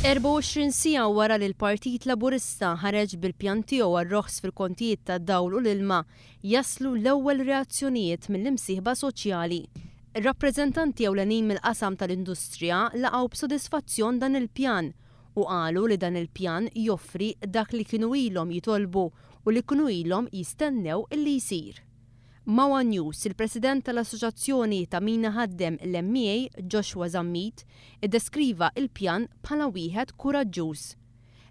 24 siegħa wara li l-Partit Laburista ħareġ bil-pjan tiegħu għar-roħs fil-kontijiet tad-dawl u l-ilma, jaslu l-ewwel reazzjonijiet mill-imsieħba soċjali. Ir-rappreżentanti ewlenin mill-qasam tal-industrija laqgħu b'sodisfazzjon dan il-pjan u qalu li dan il-pjan joffri dak li kienu ilhom jitolbu u li kienu ilhom jistennew li jsir. Ma' one News, il-President tal-Assoċazzjoni ta' Min Iħaddem l-MEA, Joshua Zammit, iddeskriva l-pjan bħala wieħed kuraġġuż.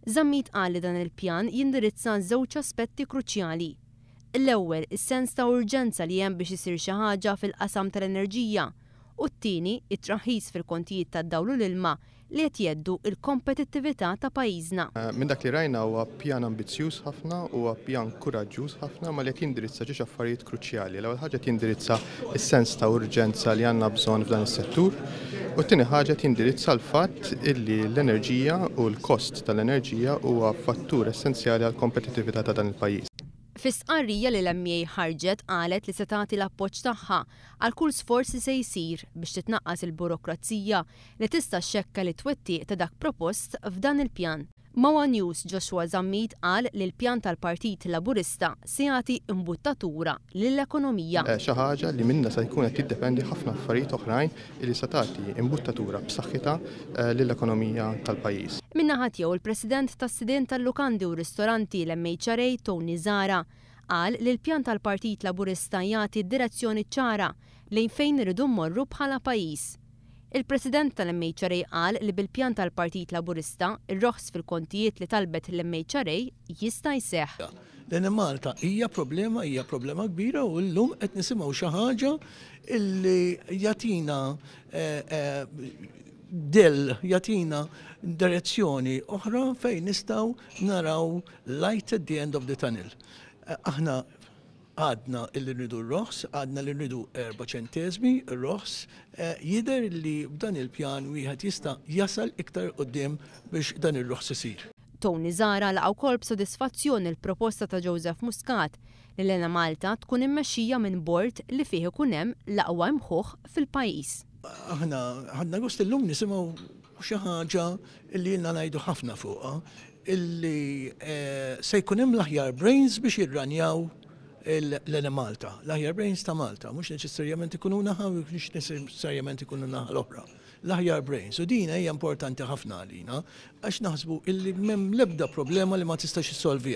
Zammit qal li dan il-pjan jindirizza żewġ aspetti kruċjali. L-ewwel, is-sens ta' urġenza li hemm biex isir xi ħaġa fil-qasam tal-enerġija, u t-tieni, it-traħħis fil-kontijiet tad-dawl u l-ilma li qed jheddu l-kompetittività ta' pajjiżna. Minn dak li rajna huwa pjan ambizzjuż ħafna, huwa pjan kuraġġuż ħafna imma li qed jindirizza ġiex affarijiet kruċjali. L-ewwel ħaġa qed jindirizza s-sens ta' urġenza li għandna bżonn f'dan is-settur u t-tieni ħaġa qed jindirizza l-fatt illi l-enerġija u l-kost tal-enerġija huwa fattur essenzjali għall-kompetittività ta' dan il-pajjiż. Fi stqarrija li l-MEA ħarġet qalet li se tagħti l-appoġġ tagħha għal kull sforz li se jsir biex titnaqqas il-burokrazija li tista' xxekkel it-twettiq ta' dak propost f'dan il-pjan. Ma' one News Joshua Zammit qal li l-pjan tal-Partit Laburista se jagħti imbuttatura lill-ekonomija. Xi ħaġa li minnha se jkun qed jiddependi ħafna affarijiet oħrajn li se tagħti imbuttatura b'saħħitha lill-ekonomija tal-pajjiż. Min-naħa tiegħu l-President tas-Sidien tal-Lukandi u Ristoranti, l-MHRA, Tony Zahra, qal li l-pjan tal-Partit Laburista jagħti direzzjoni ċara lejn fejn irridu mmorru bħala pajjiż. Il-President tal-MHRA qal li bil-pjan tal-Partit Laburista, ir-roħs fil-kontijiet li talbet l-MHRA jista' jseħħ. Lejn Malta hija problema, hija problema kbira u llum qed nisimgħu xi ħaġa li jagħtina dell, jagħtina direzzjoni oħra fejn nistgħu naraw light at the end of the tunnel. Aħna. Għadna li rridu r-roħs, għadna li rridu erba' ċenteżmi roħs. Jidher li b'dan il-pjan wieħed jista' jasal iktar 'il quddiem biex dan ir-roħs isir. Tony Zahra laqa' wkoll b'sodisfazzjon il-proposta ta' Joseph Muscat li l-Enemalta tkun immexxija minn bord li fih ikun hemm l-aqwa imħuħ fil-pajjiż. Aħna ħadna gost illum nisimgħu xi ħaġa li ilna ngħidu ħafna fuqha, illi se jkun hemm l-aħjar brains biex jirranjaw l-Enemalta, l-aħjar brains ta' Malta, mhux neċessarjament ikunu naħa, mhux neċessarjament ikunu naħa l-oħra. L-aħjar brains, u din hija importanti ħafna għalina, għax naħsbu illi m'hemm l-ebda problema li ma tistax issolviha.